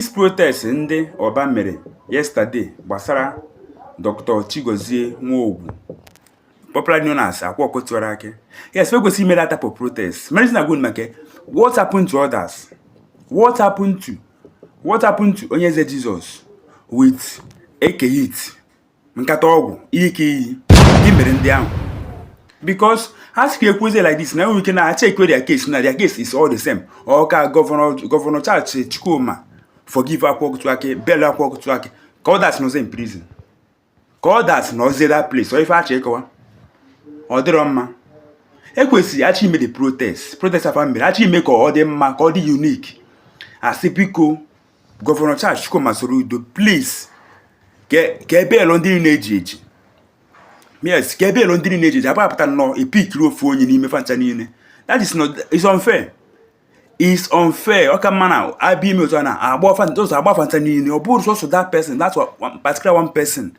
Peace protest ndị Oba mere yesterday gbasara Dr. Chigozie Nwogu popularly known as Akwa Okotiwara Ake. Yes, we go see made type of protest. Medicine are going make what happened to others? What happened to what happened to Onyeze Jesus with AK hit? nkata ọgwụ ke ihe mere ndị ahụ because a sị ka ekwuzie like this na enwere ike na a checkwe their case na their case is all the same ọ ka gọvanọ Charles Chukwuma forgive Akwa Ọkụkọ Tiwara Akị bail Akwa Ọkụkọ Tiwara Akị ka others nọzie in prison ka others nọzie that place ọ ife achọ ịkọwa ọ dịrọ mma ekwesịrị achọ ime the protest protest a fa mere achọ ime ka ọ dị mma ka ọ dị unique asị biko gọvanọ Charles Chukwuma Soludo please ka e bailuo ndị niile eji eji yes ka e bailuo ndị niile eji eji abụ apụta nnọọ epikiri ofu onye n'ime fa ncha niile that is not it's unfair it's unfair ọ ka mma na abịa ime otu a na agba afa ụzọ agba afa fa ncha niile ọ bụrọ sọsọ that person that particular one person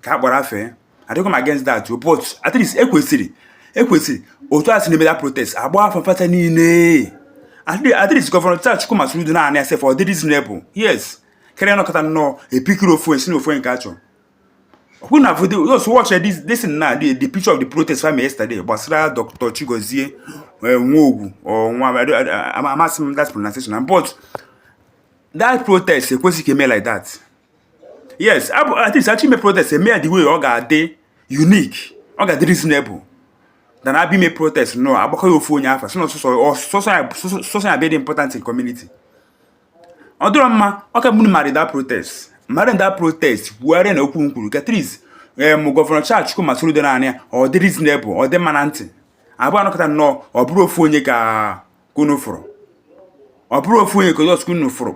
ka a gbara afa ya adịrọkwa m against that but at least ekwesịrị ekwesịrị otu a si na-eme that protest agba afa fa ncha niile at least gọvanọ Charles Chukwuma Soludo na-anụ ya sef ọ dị reasonable yes karịa anọkata nnọọ epikiri ofu onye sị na ofu onye ka achọ ọkwụ na video just watch this this na the, the picture of the protest from yesterday gbasara Dr. Chigozie eh, Nwogwu or nwa amasị m that pronunciation but that protest ekwesị ka eme like that yes at least achọ ime protest eme ya the way ọ ga-adị unique ọ ga-adị reasonable than abịa ime protest nnọọ agbakọ ya ofu onye afa sị na sọsọ ya bịa dị important in community ọ dịrọ mma ọ ka mma unu megharịa that protest megharịa that protest kwugharịa na okwu unu kwuru ka at least em gọvanọ Charles Chukwuma Soludo na-anụ ya ọ dị reasonable ọ dị mma na ntị abụ anọkata nnọọ ọ bụrụ ofu onye ka unu fụrụ ọ bụrụ ofu onye ka just unu fụrụ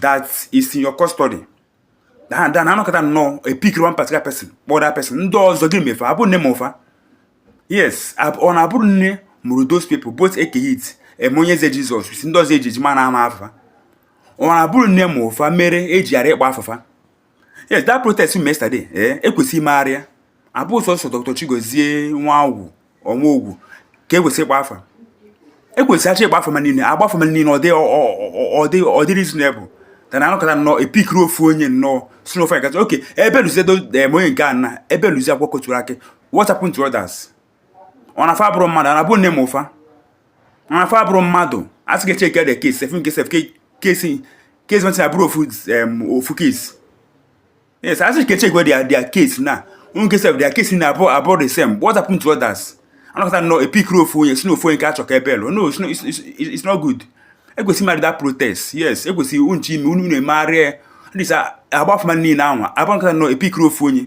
that is in your custody than anọkata nnọọ epikiri one particular person kpọọ that person ndị ọzọ gị me fa abụ nne mụ fa yes ọ na abụrọ nne mụrụ those people both Eke Hit em Onye Eze Jesus ndị ọzọ eji eji m na-ama afa fa ọ na abụrọ nne mụ fa mere eji ghara ịkpọ afa fa yes that protest we yesterday eh ekwesị imegharị ya abụ sọsọ Dr. Chigozie Nwangwu or Nwogwu ka ekwesị ịgba afa ekwesị achọ ịgba afa mmadụ niile agba afa mmadụ niile ọ dị reasonable than anọkata nnọọ epikiri ofu onye nnọọ sị n'ofe agazi okay e bailuzie eh, onye nke a na e bailuzie Akwa Ọkụkọ Tiwara Akị what happened to others ọ na fa abụrọ mmadụ ọ na abụ nne mụ fa ọ na fa abụrọ mmadụ a sị ka e checkie their case ị fụ nke sef case case nwetara abụrụ ofu ofu case yes a sị ka e checkwe their case na enwe ike sef their case na abụ the same what happened to others anọkata nnọọ epikiri ofu onye sị na ofu onye ka achọ ka e bailuo no it's not good ekwesị that protest yes ekwesị unu chọ ime unu emegharịa ya at least agba afa mmadụ niile na abụ anọkata nnọọ epikiri ofu onye